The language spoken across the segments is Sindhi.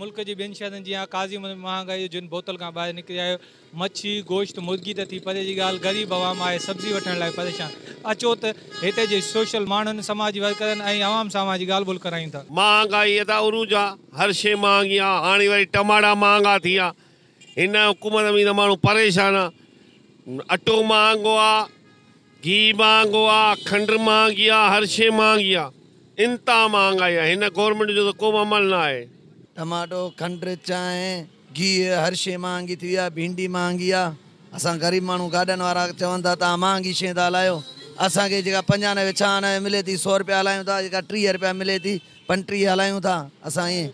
ملڪ جي ٻين شهرن جيان قاضي منهنجي مهانگائي جو جن بوتل کان ٻاهر نڪري آيو. مڇي، گوشت، مرغي ته ٿي پري جي ڳالهه غريب عوام آهي سبزي وٺڻ لاء پريشان. اچو ته هتي جي سوشل ماڻهن، سماجي ورڪرن ۽ عوام سان اوهان جي ڳالهه ٻولهه ڪرايون ٿا. مهانگائي ادا عروج آ هر شي مهانگي آ هاڻي وري ٽماٽا مهانگا ٿي ويا هن حڪومت ۾ ته ماڻهو پريشان آ. اٽو مهانگو آ، گيهه مهانگو آ، کنڊ مهانگي آ، هر شيء مهانگي آ. انتها مهانگائي آ. هن گورنمينٽ جو ته ڪو به عمل نه آهي. ٽماٽو، کنڊ، چانهه، گيهه هر شيء مهانگي ٿي وئي آ. ڀينڊي مهانگي آ. اسان غريب ماڻهو گاڏن وارا چون ٿا ته اوهان مهانگي شين ٿا هلايو. اسان کي جيڪا پنجانوي ڇهانوي ملي ٿي سؤ رپيا هلايون ٿا، جيڪا ٽيهه رپيا ملي ٿي پنٽري هلايون ٿا اسان ائين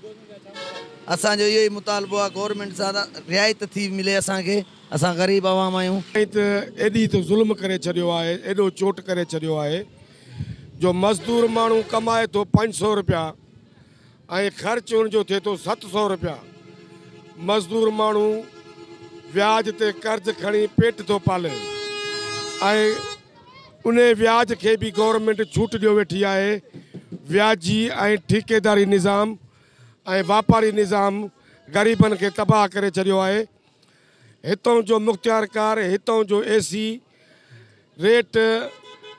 اسان جو اهو ئي مطالبو آ گورنمينٽ سان رعايت ٿي ملي اسان کي اسان غريب عوام آهيون. ائين ته ايڏي ته ظلم ڪري ڇڏيو آهي ايڏو چوٽ ڪري ڇڏيو آهي جو مزدور ماڻهو ڪمائي ٿو پنج سئو رپيا ۽ خرچ ان جو ٿئي ٿو ست سئو رپيا مزدور ماڻهو وياج تي قرض کڻي پيٽ ٿو پالي ۽ انهي وياج کي به گورنمينٽ ڇوٽ ڏيو ويٺي آهي، وياجي ۽ ٺيڪيداري نظام ۽ واپاري نظام غريبن کي تباهه ڪري ڇڏيو آهي، هتئون جو مختيارڪار هتئون جو اي سي ريٽ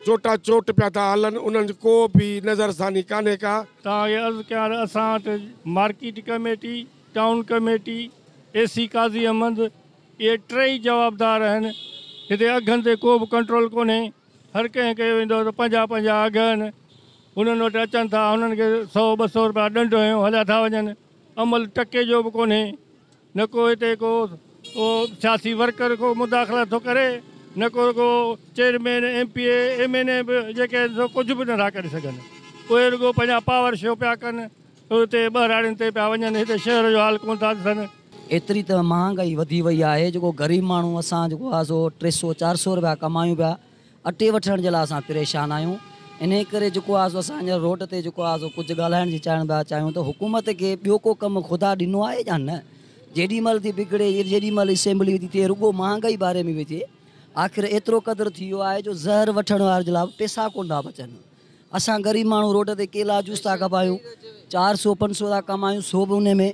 چوٽان چوٽ پيا ٿا هلن انهن جي ڪو به نظرثاني ڪانهي ڪا. توهانکي عرض ڪيان ته اسان وٽ market committee, town committee, A C Qazi Ahmed, اهي ٽيئي جوابدار آهن. هتي اگهن تي ڪو به ڪنٽرول ڪونهي. هر ڪنهن کي ويندو ته پنهنجا پنهنجا اگهه آهن. هنن وٽ اچن ٿا، هنن کي سؤ ٻه سؤ رپيا ڏنڊ هنيو هليا ٿا وڃن. عمل ٽڪي جو به ڪونهي. نه ڪو هتي ڪو سياسي ورڪر ڪو مداخلت ٿو ڪري، نه ڪو رڳو chairman, M P A, M N A به جيڪي آهن سو ڪجهه به نٿا ڪري سگهن. اهي رڳو پنهنجا پاور شو پيا ڪن. اهي اتي ٻهراڙين تي پيا وڃن، هتي شهر جو حال ڪونه ٿا ڏسن. ايتري ته مهانگائي وڌي وئي آهي، جيڪو غريب ماڻهو اسان جيڪو آهي سو ٽي سؤ چار سؤ رپيا ڪمايون پيا، اٽي وٺڻ جي لاء اسان پريشان آهيون، انهي ڪري جيڪو آهي سو اسان هينئر روڊ تي جيڪو آهي سو ڪجهه ڳالهائڻ جي چاهڻ پيا چاهيون ته حڪومت کي ٻيو ڪو ڪم خدا ڏنو آهي يا نه؟ جيڏي مهل ٿي بگڙي جيڏي مهل اسيمبلي ٿي ٿئي رڳو مهانگائي باري ۾ پئي ٿئي، آخر ايترو قدر ٿي ويو آهي جو زهر وٺڻ وارن جي لاء به پئسا ڪونه ٿا بچن. اسان غريب ماڻهو روڊ تي ڪيلا جوس ٿا کپايون چار سو پنج سو ٿا ڪمايون سو به ان ۾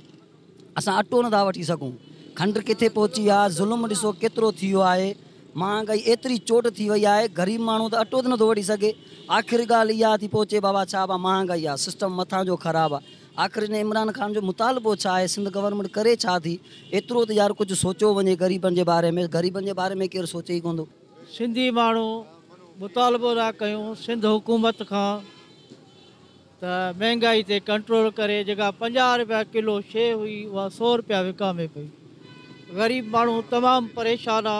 اسان اٽو نٿا وٺي سگهون کنڊ ڪٿي پهچي آ ظلم ڏسو ڪيترو ٿي ويو آهي مهانگائي ايتري چوٽ ٿي وئي آهي غريب ماڻهو ته اٽو ته نٿو وٺي سگهي آخر ڳالهه اها ٿي پهچي بابا ڇا با مهانگائي آ سسٽم مٿان جو خراب آ آخر هن عمران خان جو مطالبو ڇا آهي سنڌ گورنمينٽ ڪري ڇا ٿي ايترو ته يار ڪجهه سوچيو وڃي غريبن جي باري ۾ غريبن جي باري ۾ ڪير سوچي ئي ڪونه ٿو. سنڌي ماڻهو مطالبو ٿا ڪيون سنڌ حڪومت کان ته مهنگائي تي ڪنٽرول ڪري جيڪا پنجاهه رپيا ڪلو شي هئي اها سؤ رپيا وڪامي پئي غريب ماڻهو تمام پريشان آ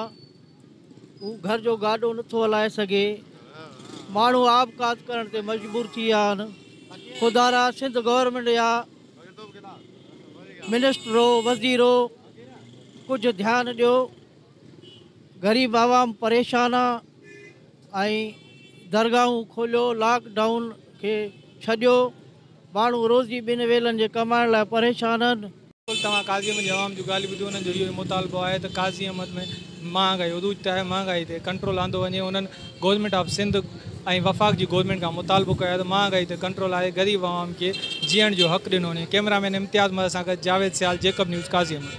هو گهر جو گاڏو نٿو هلائي سگهي ماڻهو آبڪات ڪرڻ تي مجبور ٿي ويا آهن خدارا سنڌ گورنمينٽ يا منسٽرو وزيرو ڪجهه ڌيان ڏيو غريب عوام پريشان آ ۽ درگاهون کوليو لاڪ ڊائون کي ڇڏيو ماڻهو روزي ٻن ويلن جي ڪمائڻ لاء پريشان آهن. بلڪل توهان قاضي احمد جي عوام جون ڳالهيون ٻڌيون انهن جو اهو ئي مطالبو آهي ته قاضي احمد ۾ مهانگائي عروج تي آهي مهانگائي تي ڪنٽرول آندو وڃي انهن گورنمينٽ آف سنڌ ۽ وفاق جي گورنمينٽ کان مطالبو ڪيو آهي ته مهانگائي تي ڪنٽرول آهي غريب عوام کي جيئڻ جو حق ڏنو وڃي ڪئميرا مين امتياز مهر سان گڏ جاويد سيال جيڪب نيوز قاضي احمد.